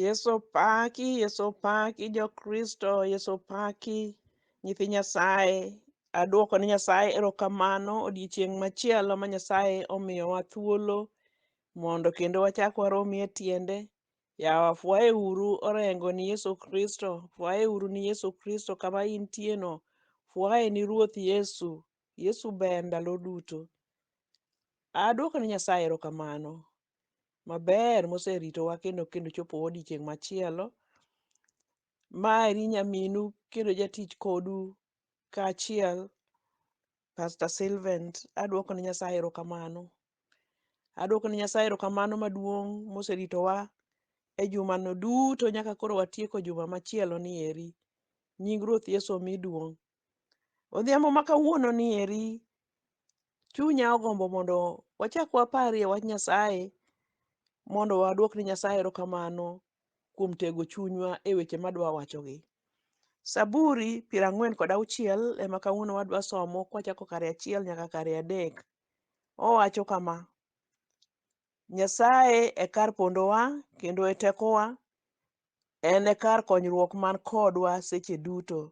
Yesu paki, Yesu paki jokristo, Yesu paki nyithi Nyasaye. Adwoko ne Nyasaye erokamano odiechieng' machielo ma Nyasaye omiyowa thuolo mondo kendo wachak waromi e tiende. Yawa fwaye uru orengo ni Yesu Kristo, fwaye uru ni Yesu Kristo kama intieno, fwaye ni Ruoth Yesu. Yesu ber ndalo duto. Adwoko ne Nyasaye erokamano maber moseritowa kendo kendo chopo odiechieng' machielo. Mari nyaminu kendo jatich kodu kaachiel Pastor Sylvant, adwoko ne Nyasaye erokamano. Adwoko ne Nyasaye erokamano maduong' moseritowa e jumano duto nyaka koro watieko juma machielo ni eri. Nying Ruoth Yesu omi duong' Odhiambo ma kawuono ni eri, chunya ogombo mondo wachak waparie wach Nyasaye mondo waduok ni Nyasaye erokamano kuom tego chunywa e weche madwa wachogi. Saburi piero ang'wen kod auchiel ema kawuono wadwa somo kwachako kare achiel nyaka kare adek. Owacho kama, Nyasaye e kar pondowa kendo e tekowa, en e kar konyruok man kodwa seche duto.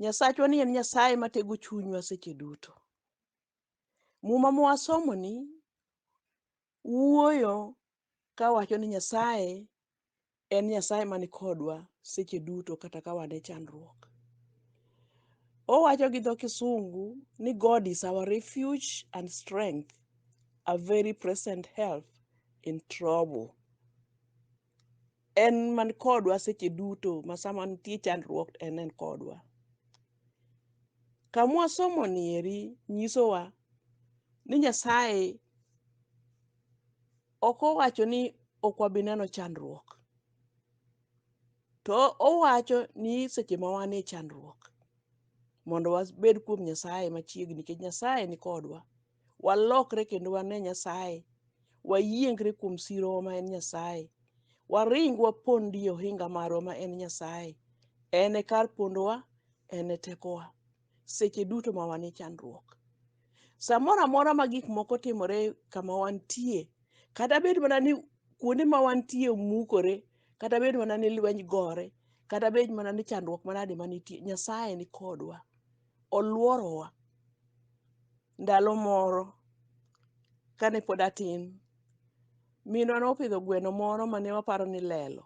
Nyasachwa ni en Nyasaye matego chunywa seche duto. Muma mwasomo ni wuoyo ka wacho ni Nyasaye en Nyasaye man kodwa seche duto kata ka wan e chandruok. Owacho gi dho Kisungu ni God is our refuge and strength, a very present help in trouble. En man kodwa seche duto ma sama nitie chandruok en en kodwa. Kamwa somo ni eri nyisowa ni Nyasaye ok owacho ni ok wabi neno chandruok. To owacho ni seche ma wan e chandruok mondo wabed kuom Nyasaye machiegni nikech Nyasaye ni kodwa. walokre kendo wane Nyasaye, wayiengre kuom sirowa ma en Nyasaye, waring wapondi e ohinga marwa ma en Nyasaye. En e kar pondowa, en e tekowa seche duto ma wan e chandruok. Samoro amora ma gik moko timore kama wantie, kata bed mana ni kuonde ma wantie omukore, kata bed mana ni lweny gore, kata bed mana ni chandruok manade manitie, Nyasaye ni kodwa. oluorowa ndalo moro kane pod atin. Minwa nopidho gweno moro mane waparo ni lelo.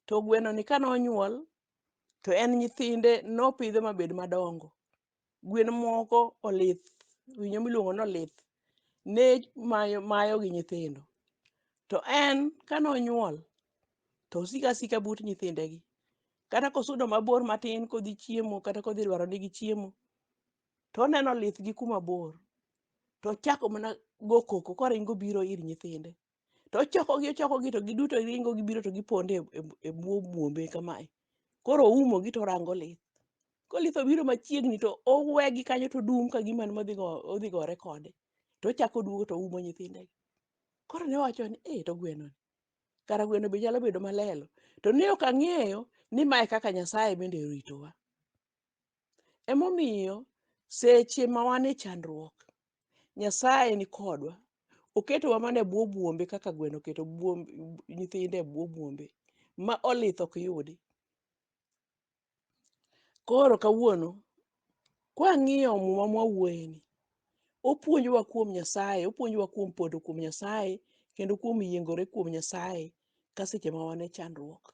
To gwenoni kane onyuol to en nyithinde nopidho mabed madongo. Gwen moko olith, winyo miluongo ni olith ne mayo mayo gi nyithindo. To en kane onyuol to osiko asika but nyithindegi. kata kosudo mabor matin kodhi chiemo kata kodhi lwaro nigi chiemo to oneno lith gi kuma bor to ochako mana go koko koringo biro ir nyithinde to ochokogi ochokogi to giduto ringo gibiro to giponde e bwo buombe kamae koro oumogi to orango lith kolith obiro machiegni to owegi kanyo to dum ka gima odhi gore kode to ochako oduogo to oumo nyithindegi koro ne wacho ni e to gwenoni kara gweno be nyalo bedo malelo to ne ok ang'eyo ni mae kaka nyasaye bende oritowa emomiyo seche ma wan e chandruok nyasaye ni kodwa oketowa mana e bwo buombe kaka gweno oketo buom- nyithinde e bwo buombe ma olith ok yudi Koro kawuono kwang'iyo muma mwawuoyeni, opuonjowa kuom Nyasaye, opuonjowa kuom pondo kuom Nyasaye kendo kuom yiengore kuom Nyasaye ka seche ma wan e chandruok.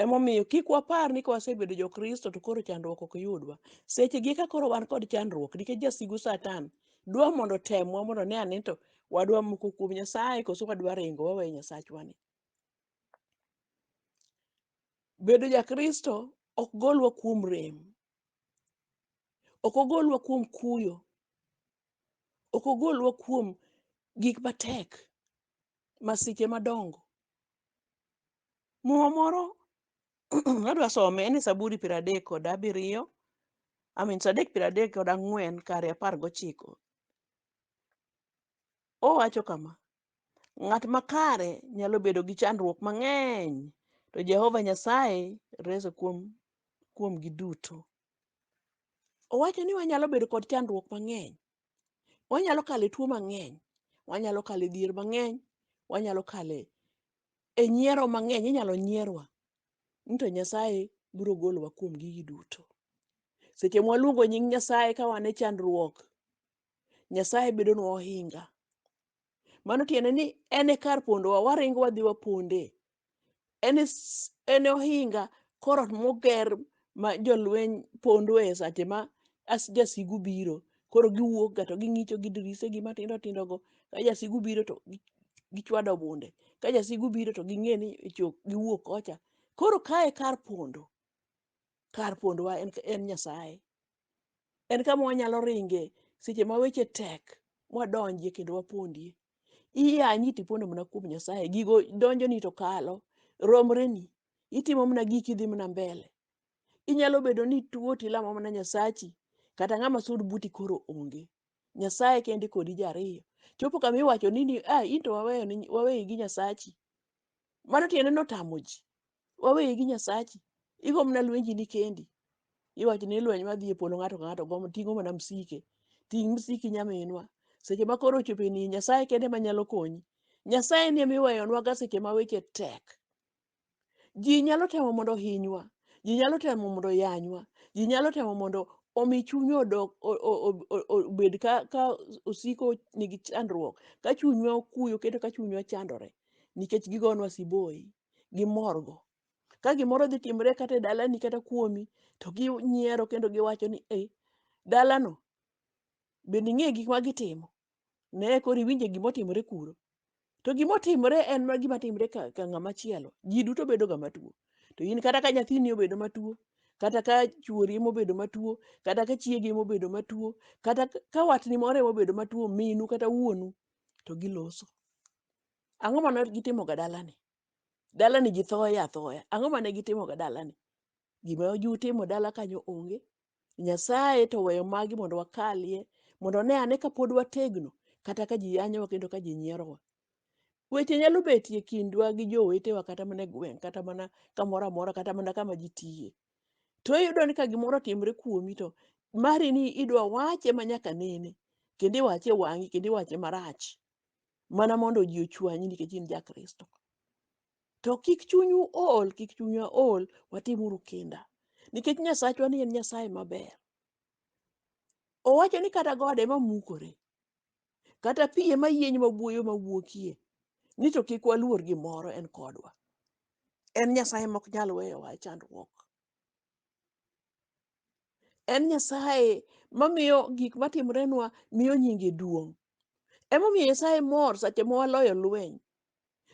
Emomiyo kik wapar ni kwasebedo jo-Kristo to koro chandruok ok yudwa. Seche gi eka koro wan kod chandruok nikech jasigu Satan dwa mondo otemwa mondo one ane to wadwa moko kuom Nyasaye koso wadwa ringo wawe Nyasachwani. bedo jakristo ok golwa kuom rem ok ogolwa kuom kuyo ok ogolwa kuom gik matek masiche madongo muma moro adwa some en e saburi piero adek kod abiriyo amin sadek piero adek kod ang'wen kare apar gochiko owacho kama Ng'at makare nyalo bedo gi chandruok mang'eny, to Jehova Nyasaye rese kuom kuomgi duto. Owacho ni wanyalo bedo kod chandruok mang'eny, wanyalo kale tuo mang'eny, wanyalo kale dhier mang'eny, wanyalo kale e nyiero mang'eny, inyalo nyierwa. Ni to Nyasaye biro golowa kuom gigi duto. Seche mwaluongo nying Nyasaye ka wan e chandruok, Nyasaye bedonwa ohinga. Mano tiende ni en e kar pondowa, waringo wadhi waponde. En e s- en e ohinga korot moger ma jolweny pondoe e sache ma as- jasigu biro. Koro giwuok ga to ging'icho gi dirise gi matindo tindo go. Ka jasigu biro to gi- gichwado bunde. Ka jasigu biro to ging'e ni ichok giwuok kocha. Koro kae kar pondo. Kar pondowa en, en Nyasaye. En kama wanyalo ringe seche ma weche tek mwadonjie kendo wapondie. Iyanyi tipondo mana kuom Nyasaye, gigo donjoni to kalo, romreni, itimo mana giki idhi mana mbele. Inyalo bedo ni ituo tilamo mana Nyasachi, kata ng'ama sud buti koro onge. Nyasaye kende kodi jariyo. Chopo kama iwacho ni ni, ah, into waweyo ni waweyi gi Nyasachi. Mano tiende ni otamo ji. Waweye gi Nyasachi. Igo mana lwenji ni kendi. Iwacho ni lweny madhi e polo ng'ato ka ng'ato gomo ting'o mana msike. Ting' msiki nyaminwa. Seche ma koro ochopo e ni Nyasaye kende ma nyalo konyi. Nyasaye ni ema iweyonwaga seche ma weche tek. Ji nyalo temo mondo ohinywa. Ji nyalo temo mondo oyanywa. Ji nyalo temo mondo omi chunywa odok o- o- o- o- o- obed ka, ka osiko nigi chandruok, ka chunywa okuyo kendo ka chunywa chandore. nikech gigonwa siboi gimorgo ka gimoro dhi timre kata e dalani kata kuomi to ginyiero kendo giwacho ni e dalano bende ing'e gik ma gitimo ne koro iwinje gima otimore kuro to gima otimore en ma gima timre ka, ka ng'ama chielo ji duto bedo ga matuo to in kata ka nyathini obedo matuo kata ka chuori emobedo matuo kata ka chiegi emobedo matuo kata ka- ka watni moro emobedo matuo minu kata wuonu to giloso. Ang'o ma ne gitimoga dalani? Dalani ji thoye athoya. Ang'o ma ne gitimoga dalani? Gima jutimo dala kanyo onge. Nyasaye to weyo magi mondo wakalie, mondo one ane ka pod wategno, kata ka ji yanyowa kendo ka ji nyierowa. Weche nyalo betie e kindwa gi jowetewa kata mana e gweng', kata mana kamoro amora, kata mana kama ji tiye. to iyudo ni ka gimoro otimre kuomi to mari ni idwa wache ma nyaka nene kendo iwache wang'i kendo iwache marach mana mondo ji ochwanyi nikech in ja kristo to kik chunyu ol kik chunywa ol watimuru kinda nikech nyasachwa ni en nyasaye maber owacho ni kata gode mamukore kata pi ema yieny ma buoyo ma wuokie ni to kik waluor gimoro en kodwa en nyasaye mok nyal weyowa e chandruok en nyasaye mamiyo gik matimrenwa miyo nyinge duong' emomiyo nyasaye mor seche ma waloyo lweny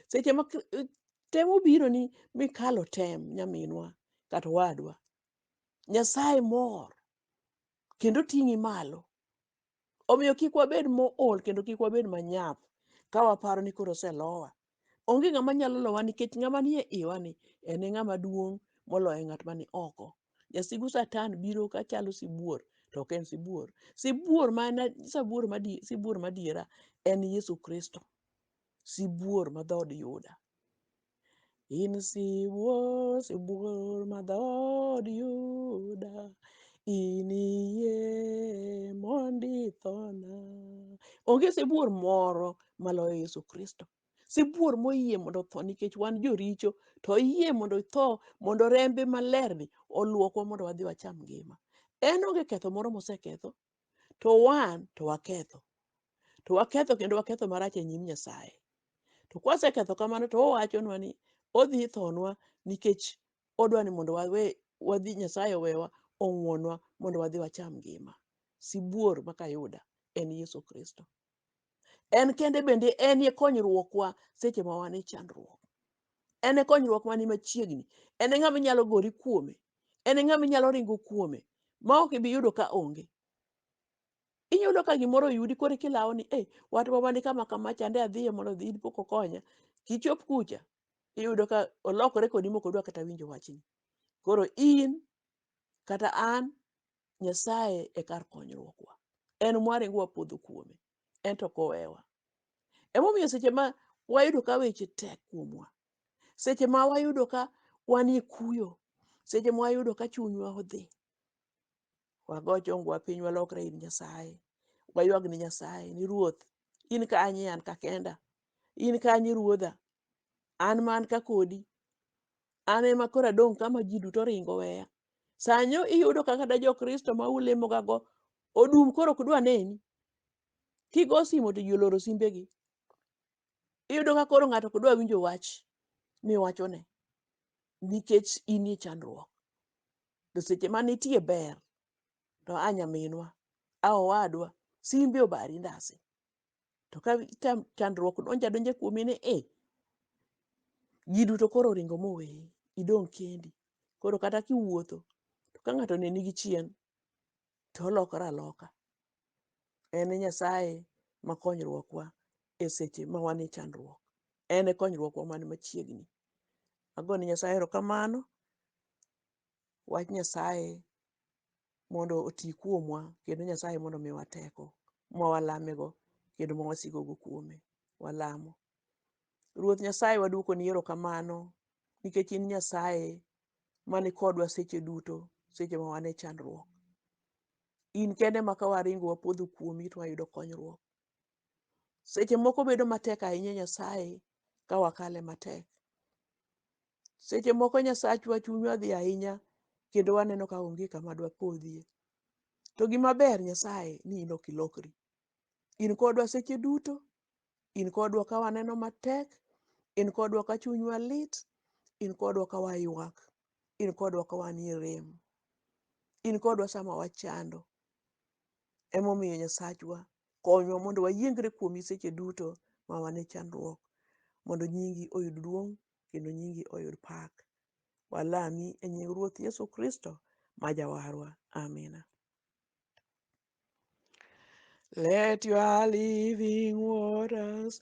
seche ma kr- eh, tem obiro ni mikalo tem nyaminwa kata wadwa nyasaye mor kendo ting'i malo Omiyo kik wabed mool kendo kik wabed manyap ka waparo ni koro oselowa. Onge ng'ama nyalo lowa nikech ng'ama nie iwa ni en e ng'ama duong' moloyo ng'at mani oko. Jasigu Satan biro ka chalo sibuor to ok en sibuor. Sibuor ma en sibuor madi sibuor madiera en Yesu Kristo. Sibuor ma dhood Yuda. In sibuor, sibuor ma dhood Yuda, iniyie mondo ithona. Onge sibuor moro maloyo Yesu Kristo. Sibuor moyie mondo otho nikech wan joricho, to oyie mondo itho mondo rembe malerni olwokwa mondo wadhi wacham ngima. En onge ketho moro moseketho, to wan to waketho to waketho kendo waketho marach e nyim nyasaye to kwaseketho kamano to owachonwa ni odhi thonwa nikech odwa ni mondo wawe wadhi nyasaye owewa ong'wonwa mondo wadhi wacham ngima sibuor makayuda en yesu kristo en kende bende en e konyruokwa seche ma wan e chandruok en e konyruok mani machiegni en e ng'ama inyalo gori kuome en e ng'ama inyalo ringo kuome ma ok ibi yudo ka onge inyalo ka gimoro oyudi koro kilawo ni eh wat mama ni kama kama chande adhiye mondo odhi in pok okonya kichop kucha iyudo ka olokore kodi mok odwa kata winjo wachni koro in kata an Nyasaye e kar konyruokwa. En mwaringo wapodho kuome, en to kowewa. Emomiyo seche ma wayudo ka weche tek kuomwa, seche ma wayudo ka wanie kuyo, seche ma wayudo ka chunywa odhi, wago chongwa piny walokre ir Nyasaye, waywag ni Nyasaye ni Ruoth, in kanye an ka kenda, in kanye Ruodha, an man ka kodi, an ema koro adong' kama ji duto ringo weya. Sanyo iyudo ka kata jo-Kristo ma ulemogago odum koro ok dwa neni. Kigo simo to ji oloro simbegi. Iyudo ka koro ng'ato ok dwa winjo wach miwachone nikech in e chandruok. To seche ma nitie ber to a nyaminwa, a owadwa, simbi obari ndasi. to ka chandruok donjo adonja kuomi ni e ji duto koro oringo moweyi idong' kendi koro kata kiwuotho to ka ng'ato oneni gi chien to olokore aloka en e nyasaye ma konyruokwa e seche ma wan e chandruok en e konyruokwa man machiegni agone nyasaye erokamano wach Nyasaye mondo oti kuomwa kendo Nyasaye mondo omiwa teko ma walamego kendo ma wasigogo kuome. Walamo. Ruoth Nyasaye waduokoni erokamano nikech in Nyasaye mani kodwa seche duto, seche ma wan e chandruok. In kende ma ka waringo wapodho kuomi to wayudo konyruok. Seche moko bedo matek ahinya Nyasaye ka wakale matek. Seche moko Nyasachwa chunywa dhi ahinya kendo waneno ka onge kama dwapodhie. To gima ber Nyasaye ni in ok ilokri. In kodwa seche duto, in kodwa ka waneno matek, in kodwa ka chunywa lit, in kodwa ka waywak, in kodwa ka wanie rem, in kodwa sama wachando. Emomiyo Nyasachwa, konywa mondo wayiengre kuomi seche duto ma wan e chandruok, mondo nyingi oyud duong' kendo nyingi oyud pak. Walami e nying Ruoth Yesu Kristo ma Jawarwa. Amina. Let your living waters